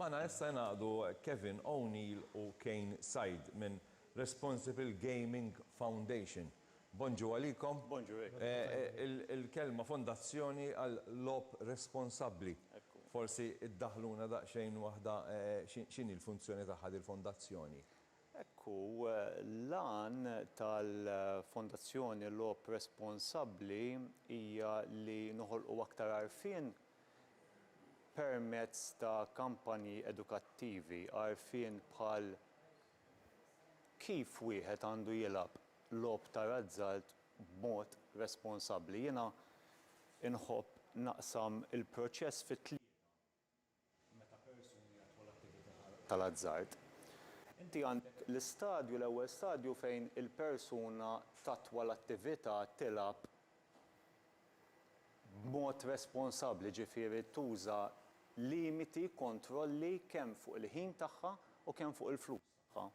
Magħna issa jingħaqdu Kevin O'Neill u Kane Said minn Responsible Gaming Foundation. Bonġu għalikom. Bonġu lejk. Il-kelma fondazzjoni għal logħob responsabbli. Ekku. Forsi iddaħħluna daqsxejn waħda x'inhi l-funzjoni tagħha dil-fondazzjoni? Ekku, l-għan tal-fondazzjoni Logħob Responsabbli hija li noħolqu aktar għarfien permezz ta' kampanji edukattivi, għarfien bħal kif wieħed għandu jilgħab logħob ta' razzalt b'mod responsabbli. Jiena nħobb naqsam il-proċess fi tlieta, meta persuni jagħtħu l-attività tal-azzard. Inti għandek l-istadju, l-ewwel stadju fejn il-persuna tatwa l-attività, tilgħab, b'mod responsabbli, jiġifieri tuża limiti, kontrolli kemm fuq il-ħin tagħha u kemm fuq il-flus tagħha.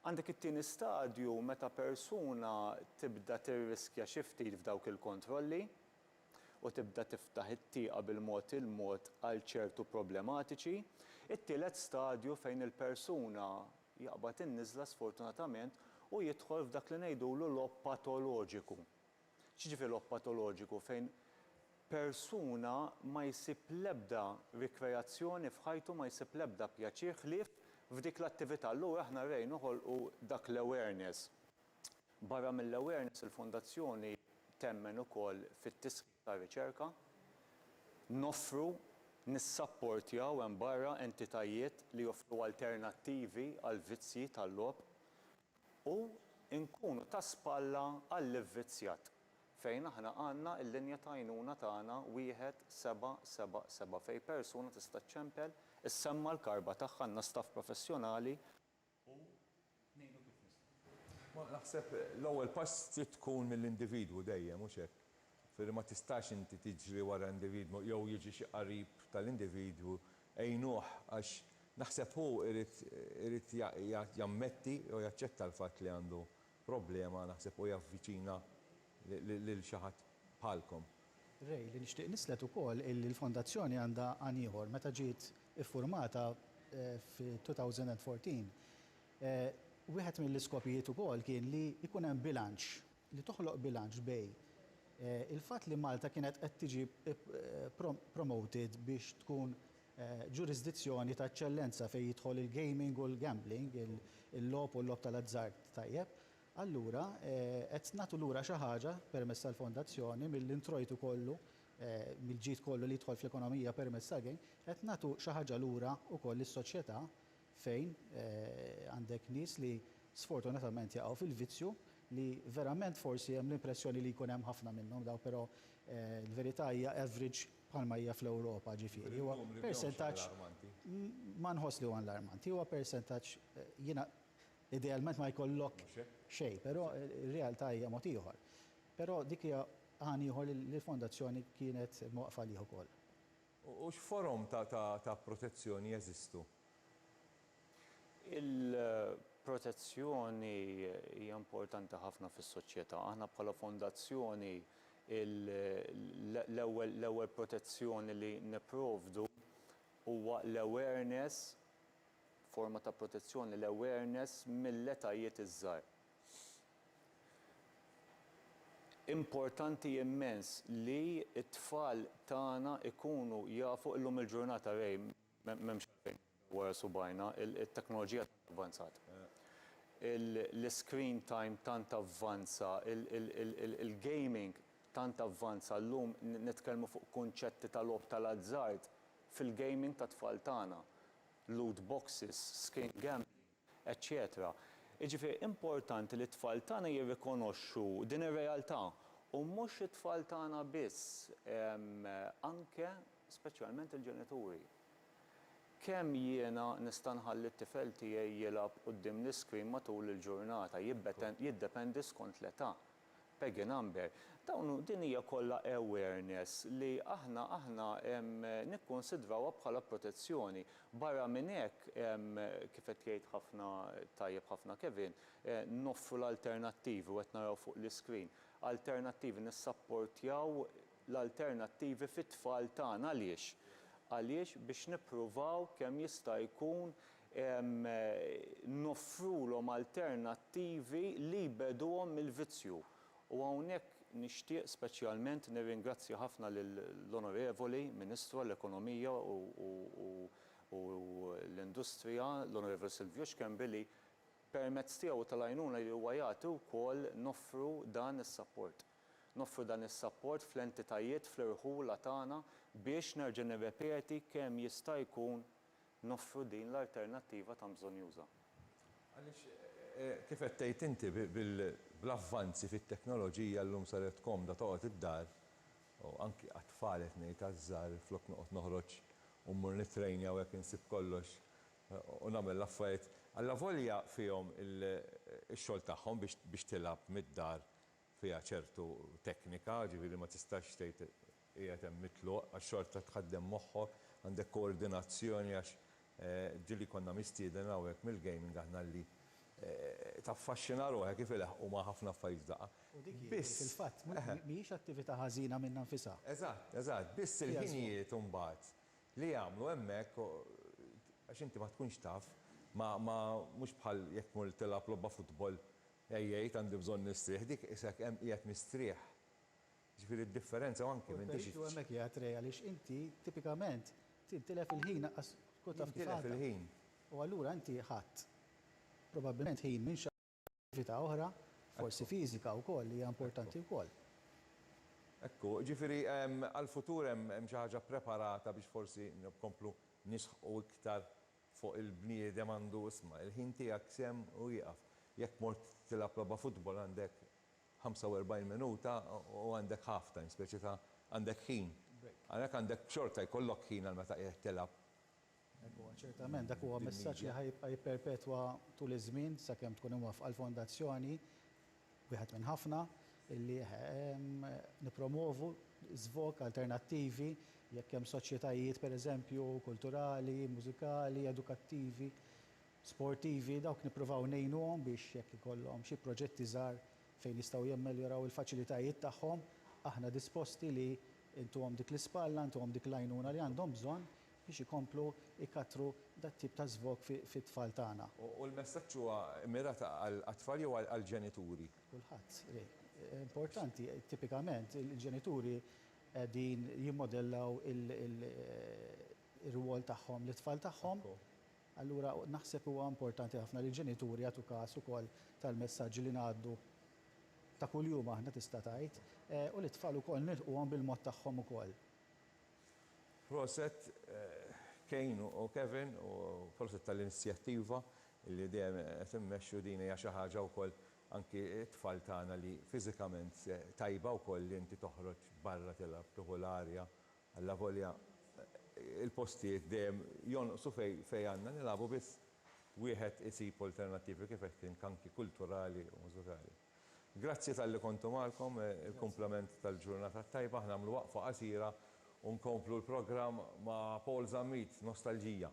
Għandek it-tieni stadju meta persuna tibda tirriskja xi ftit f'dawk il-kontrolli u tibda tiftaħ it-tieqa bil-mod il-mod għal ċertu problematiċi. It-tielet stadju fejn il-persuna jaqbad in-niżla sfortunatament u jidħol f'dak li ngħidulu logħob patoloġiku. X'jiġifieri logħob patoloġiku? Fejn persuna ma jsib l-ebda rikreazzjoni f'ħajtu, ma jsib l-ebda pjaċir ħlief f'dik l-attività. Allura aħna rrej noħolqu dak l-awareness. Barra mill-awareness il-Fondazzjoni temmen ukoll fit-tisħiħ tar-riċerka. Noffru, nissapportjaw hemm barra entitajiet li joffru alternattivi għall-vizzji tal-logħob. u nkunu ta' spalla għall-ivvizzjat, fejn aħna għandna l-linja ta' għajnuna tagħna wieħed seba' seba' seba' fejn persuna tista' ċċempel, issemma' l-karba tagħha, għandna staff professjonali, u ngħinu kif nistgħu. Ma naħseb l-ewwel pass trid tkun mill-individwu dejjem, hux hekk? Firri ma tistax inti tiġri wara individwu jew jiġi xi qarib tal-individwu għinuh għax naħseb hu irid irid jammetti jew jaċċetta l-fatt li għandu problema naħseb u javviċina lil xi ħadd bħalkom. Ray, li nixtieq nislet ukoll illi l-Fondazzjoni għandha għan ieħor. Meta ġiet iffurmata fit-2014, wieħed mill-iskopijiet ukoll kien li jkun hemm bilanċ. li toħloq bilanċ bejn il-fatt li Malta kienet qed tiġi promoted biex tkun ġurisdizzjoni ta' eċċellenza fejn jidħol il-gaming u l-gambling, il-logħob u l-logħob tal-azzard tajjeb, allura qed nagħtu lura xi ħaġa permezz tal-fondazzjoni mill-introjtu kollu, mill-ġid kollu li jidħol fl-ekonomija permezz tal-game, qed nagħtu xi ħaġa lura wkoll lis-soċjetà fejn għandek nies li sfortunatament jaqgħu fil-vizzju li verament forsi hemm l-impressjoni li jkun hemm ħafna minnhom dawn però l-verità hija average bħalma hija fl-Ewropa ġifieri huwa persentaġġ ma nħoss li huwa allarmanti huwa persentaġġ jiena idealment ma jkollok xejn però r-realtà hija mod ieħor però dik hija għan ieħor li l-fondazzjoni kienet imwaqqfa għalih ukoll. U x'forom ta' protezzjoni jeżistu? Il-protezzjoni hija importanti ħafna fis-soċjetà. Aħna bħala fondazzjoni l-ewwel l-ewwel protezzjoni li nipprovdu huwa l-awareness, forma ta' protezzjoni, l-awareness mill-etajiet iż-żgħar. Importanti immens li t-tfal tagħna jkunu jafu illum il-ġurnata Ray m'hemmx għalfejn nidhru wara subgħajna, it-teknoloġija tant avvanzat, l-iscreen time tant avvanza, il-gaming tant avvanza llum nitkellmu fuq kunċetti ta' logħob tal-azzard fil-gaming tat-tfal tagħna, loot boxes, screen gambling. eċċetera Jiġifieri importanti li t-tfal tagħna jirrikonoxxu din ir-realtà u mhux it-tfal tagħna biss anke speċjalment il-ġenituri. Kemm jiena nista' nħalli t-tifel tiegħi jilgħab quddiem l-iscreen matul il-ġurnata jiddependi skont l-età Peggy Number, Dawn, din hija kollha awareness li aħna aħna nikkunsidrawha bħala protezzjoni. Barra minn hekk, kif qed jgħid ħafna tajjeb ħafna Kevin, noffru l-alternattivi u qed naraw fuq l-iscreen, alternattivi, nissapportjaw l-alternattivi fit-tfal tagħna. Għaliex? Għaliex biex nippruvaw kemm jista' jkun noffrulhom alternattivi li jbeduhom mill-vizzju. U hawnhekk nixtieq speċjalment nirringrazzja ħafna lill-Onorevoli Ministru għall-Ekonomija u l-Industrija, l-Onorevoli Silvio Schembri, li permezz tiegħu u tal-għajnuna li huwa jagħti wkoll noffru dan is-sapport. Noffru dan is-sapport fl-entitajiet, fl-irħula tagħna biex, nerġa' nirrepeti, kemm jista' jkun noffru din l-alternattiva tant bżonjuża. Għaliex, kif qed tgħid inti, bl-avvanzi fit-teknoloġija llum saret komda toqgħod id-dar, u anki għat-tfal qed ngħid, għaż-żgħar, flok noqgħod noħroġ u mmur nittrejn jew hekk insib kollox u nagħmel l-affarijiet, allavolja fihom ix-xogħol tagħhom biex tilgħab mid-dar fiha ċertu teknika, ġifieri ma tistax tgħid qiegħed hemm mitluq għax xorta tħaddem moħħok, għandek koordinazzjoni għax ġieli konna mistieden hawnhekk mill-gaming aħna li taffaxxina ruħek kif ilaħħqu ma' ħafna affarijiet f'daqqa. U dik hi, fil-fatt, mhijiex attività ħażina minnha nfisha. Eżatt, eżatt, biss il-ħinijiet imbagħad li jagħmlu hemmhekk għax inti ma tkunx taf ma mhux bħal jekk tmur tilgħab logħba futbol Jgħid, għandi bżonn nistrieħ, dik qisek hemm qiegħed mistrieħ. Jiġifieri d-differenza u anki m'intix. Hu l-peritu hemmhekk qiegħed Ray għaliex inti tipikament tintilef il-ħin laqqas tkun taf kif għadda. Jintilef il-ħin. U allura inti ħadt probabbilment ħin minn xi attività oħra, forsi fiżika wkoll li hija importanti wkoll. Ekku, jiġifieri għall-futur hemm xi ħaġa ppreparata biex forsi nkomplu nisħqu iktar fuq il-bniedem għandu isma', il-ħin tiegħek sehem u jieqaf. Jekk mort tilgħab logħba futbol għandek 45 minuta u għandek half time, speċi ta' għandek ħin. Għalhekk għandek xorta jkollok ħin għal meta qiegħed tilgħab. Hekk huwa, ċertament dak huwa messaġġ li ħa jibqa' jipperpetwa tul iż-żmien sakemm tkun imwaffqa l-fondazzjoni wieħed minn ħafna, li nippromwovu żvog, alternattivi, jekk hemm soċjetajiet, pereżempju, kulturali, mużikali, edukattivi, sportivi, dawk nippruvaw ngħinuhom biex jekk ikollhom xi proġetti żgħar fejn jistgħu jammeljoraw il-faċilitajiet tagħhom, aħna disposti li ntuhom dik l-ispalla, ntuhom dik l-għajnuna li għandhom bżonn biex ikomplu jkattru dat-tip ta' żvog fit-tfal tagħna. U l-messaġġ huwa mmirat għat-tfal jew għall-ġenituri? Kulħadd. Importanti, tipikament il-ġenituri qegħdin jimmodellaw ir-rwol tagħhom lit-tfal tagħhom. Allura naħseb huwa importanti ħafna li l-ġenituri jagħtu każ ukoll tal-messaġġi li ngħaddu ta' kuljum aħna tista' tgħid, u lit-tfal ukoll nilħquhom bil-mod tagħhom ukoll. Proset Kane u Kevin u proset tal-inizjattiva li dejjem qed immexxu din hija xi ħaġa wkoll anki t-tfal tagħna li fiżikament tajba wkoll li inti toħroġ barra tilgħab tieħu l-arja allavolja l-postijiet dejjem jonqsu fejn għandna nilagħbu biss wieħed isib alternattivi kif qed int anki kulturali u mużikali. Grazzi talli kontu magħkom, il-kumplament tal-ġurnata t-tajba, aħna nagħmlu waqfa qasira u nkomplu l-programm ma' Paul Zammit, Nostalġija.